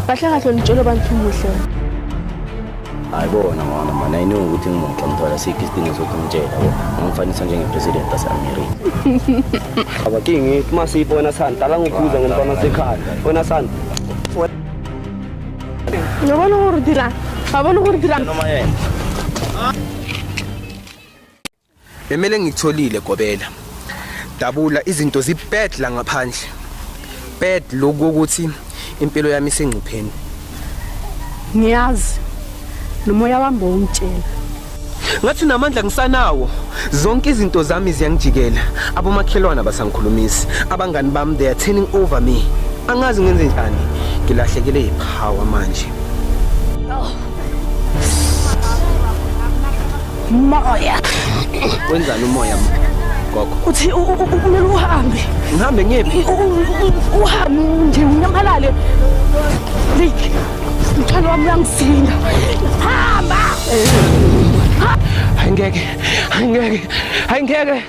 kahle kahle nitshela abantu umuhle ayibona mona mani ayiniwe ukuthi ngimuhle ngithola sikho isidingo sokuthi ngitshela ngamfanisa njengepresident waseamerika abakingi uma siyibona sani dala ngikubuza ngomntwana sekhaya wena sani ngabona gore dirang ga bone gore dirang Bemele ngikutholile Gobela. Dabula izinto zibad la ngaphandle. Bad lokho ukuthi impilo yami isengcupheni. Ngiyazi. Nomoya wami bowungitshela. Ngathi namandla ngisanawo. Zonke izinto zami ziyangijikela. Abomakhelwana basangikhulumisi. Abangani bami they are turning over me. Angazi ngenze njani. Ngilahlekele ipower manje. Oh. Moya. Wenzani umoya gogo? Uthi kumele uhambe. Ngihambe ngiyephi? Uhambe nje unyamalale. Lik. Mthwalo wami uyangisinda. Hamba. Hayi ngeke. Hayi ngeke. Hayi ngeke.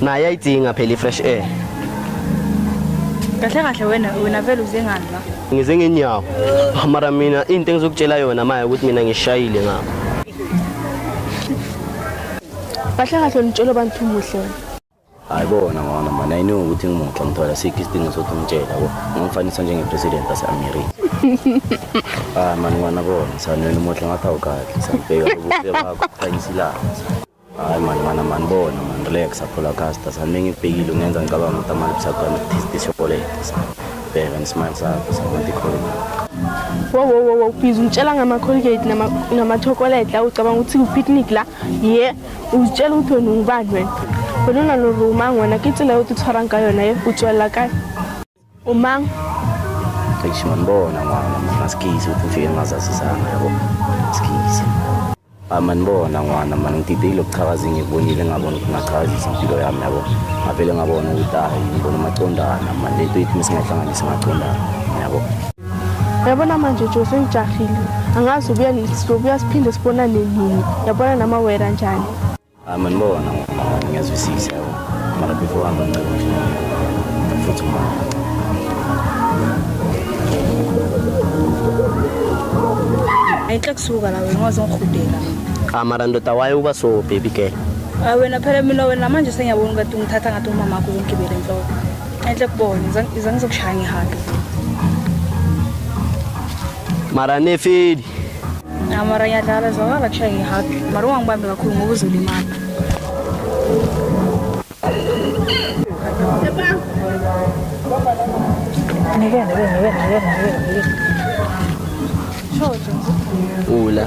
naye ayidinga phela i-fresh air kahle kahle wena wena vele uze ngani la ngize ngenyawo mara mina into engizokutshela yona maya ukuthi mina ngishayile ngabo kahle kahle unitshela abantu umuhle wena hayi bona ngona mani ayiniwe ukuthi ngimuhle ngithola sikho isidingo sokuthi ngitshela yabo ngamfanisa njengepresident ase-amerika hayi mani ngwana bona sanwena umuhle ngathi awukadli sanibheka ubuhle bakho khanyisa ilanga hayi mani mani amanibona mani relax aphola casta sani mengibhekile ungenza ngicabanga ukuthi amani busagame this chocolate bheka nesmile sakho sabantu ikhona wowowowo bhizi ungitshela ngama-colgate namachocolate la ucabanga ukuthi ku-picnic la ye uzitshela ukuthi wena ungubani wena wena unaloruma ngona ke tsela yo titshwarang ka yona ye o tswelela kae Umang. Cishe manibona mama maskizi ukuthi ufike ngingazazisanga yabo. Maskizi. Amanibona ngwana mani ngididile ukuchakaza ngikubonile ngabona ukuthi ngachakazisa impilo yami yabo. Ngavele ngabona ukuthi hayi ngibona amacondana mani lento ithi mesingahlanganisa amacondana yabo. Yabona manje Joe sengijahile. Angazi ubuya sizobuya siphinde sibonane nini. Yabona nama wera njani. Amanibona ngiyazwisisa yabo mara before hamba ngicela futhi manje ayinhle kusuka la wena waze ngihudela cha mara ndoda waye uba so baby girl Ah, wena phela mina wena manje sengiyabona ukuthi ungithatha ngathi umama wakho uzongigibela enhloko enhle kubona iza ngizokushaya ngihambe mara nefeli mara ngiyadlala zwakala kushiya ngihagi mara ungangibambi kakhulu ngoba uzolimala Hola.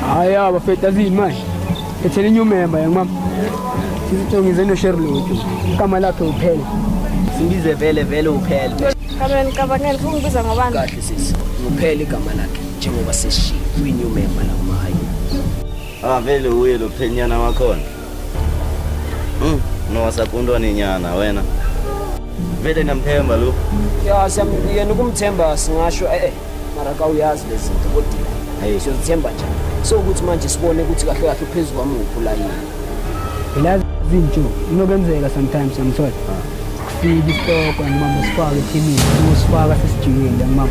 Haya bafethu azini manje. Ethele new member yangimama. Sizitshongize no Sherlock. Igama lakhe uphela. Singize vele vele uphela. Kamela ngicabangela ufuna ukubiza ngobani? Kahle sisi. Uphela igama lakhe njengoba seshiya kwi new member la mahayi. Ah vele uye lo phenyana wakhona. Mm, nowasakundwa ninyana wena. Vele namthemba lo. Ya siyamyena ukumthemba singasho eh, eh mara ka uyazi lezi zinto kodwa hey siyozithemba nje. So ukuthi manje sibone ukuthi kahle kahle phezulu kwamuphu la yini. Ilazi izinto inokenzeka sometimes yamthola. Kufika isitoko ngimama sifaka ethimini, usifaka sesijikile ngimama.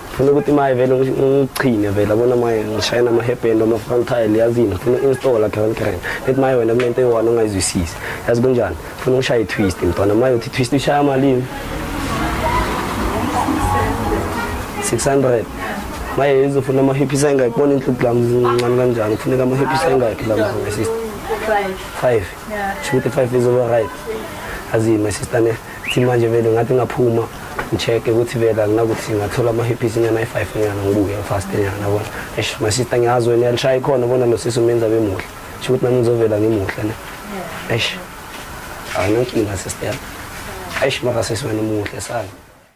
funa ukuthi maye vele ngichine vele abona maye ngishayela amahebhendo ama-front tile yazini funa installa grand grand ethi maye wena kunento eyi-one ongayizwisisi yazi kunjani funa ushaya i-twist mntwana maye uthi twist ushaya malini 600 maye izofuna amahephisa engayibona inhluphu lami zincane kanjani kufuneka amahephisa engakhi lami my sister five shukuthi five izoba right azini my sister ne Thi manje vele ngathi ngaphuma ngicheck-e ukuthi vele anginakuthi ngathola ama-hippies inyana ayi-five nyana ngibuke fast nyana yabona eish my sister ngiyazi wena uyalishaya ikhona bona lo sisi umenza bemuhle sho ukuthi nami ngizovela ngimuhle ne eish awunankinga sister yami eish mara sisi wena umuhle sana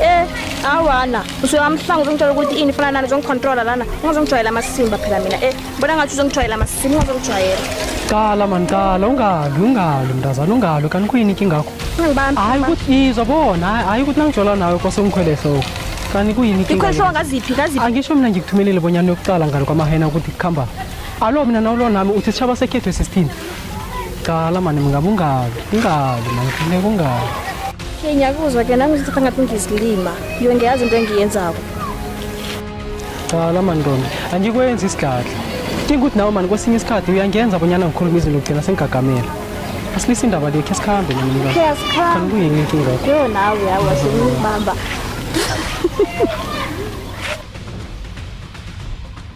Eh, awana. Usuyamhlanga uzongitshela ukuthi ini fana nani uzongicontrola lana. Ungazongijwayela amasimba phela mina. Eh, bona ngathi uzongijwayela amasimba ungazongijwayela. Qala man qala ungabi ungabi mntazana ungabi kanti kuyini inkinga yakho? Ungibambi. Hayi ukuthi izwa bona hayi ukuthi nangijola nawe kwase ungikhwele ehloko. Kanti kuyini inkinga? Ikhwehlo yakho? ngaziphi ngaziphi. Angisho mina ngikuthumelele bonyana yokuqala ngalo kwamahena ukuthi kukhamba. Alo mina nawulo nami uthi sishaba sekhethu esisithini. Cala mani mngabe ungabi ungabi mani kufuneka ungabi Hey ngiyakuzwa ke nami ngithatha ngathi ngizilima. Yo ngiyazi into engiyenzako. cala mani ntombi angikwenzi isigadla dinga ukuthi nawe mani kwesinye isikhathi uyangenza bonyana ngikhuluma izinto kugcina sengigagamela asilise indaba le khe sikhambe nami mnikazi. Khe asikhambe. Kanti kuyini inkinga yakho? Yo nawe yawo wasengibamba.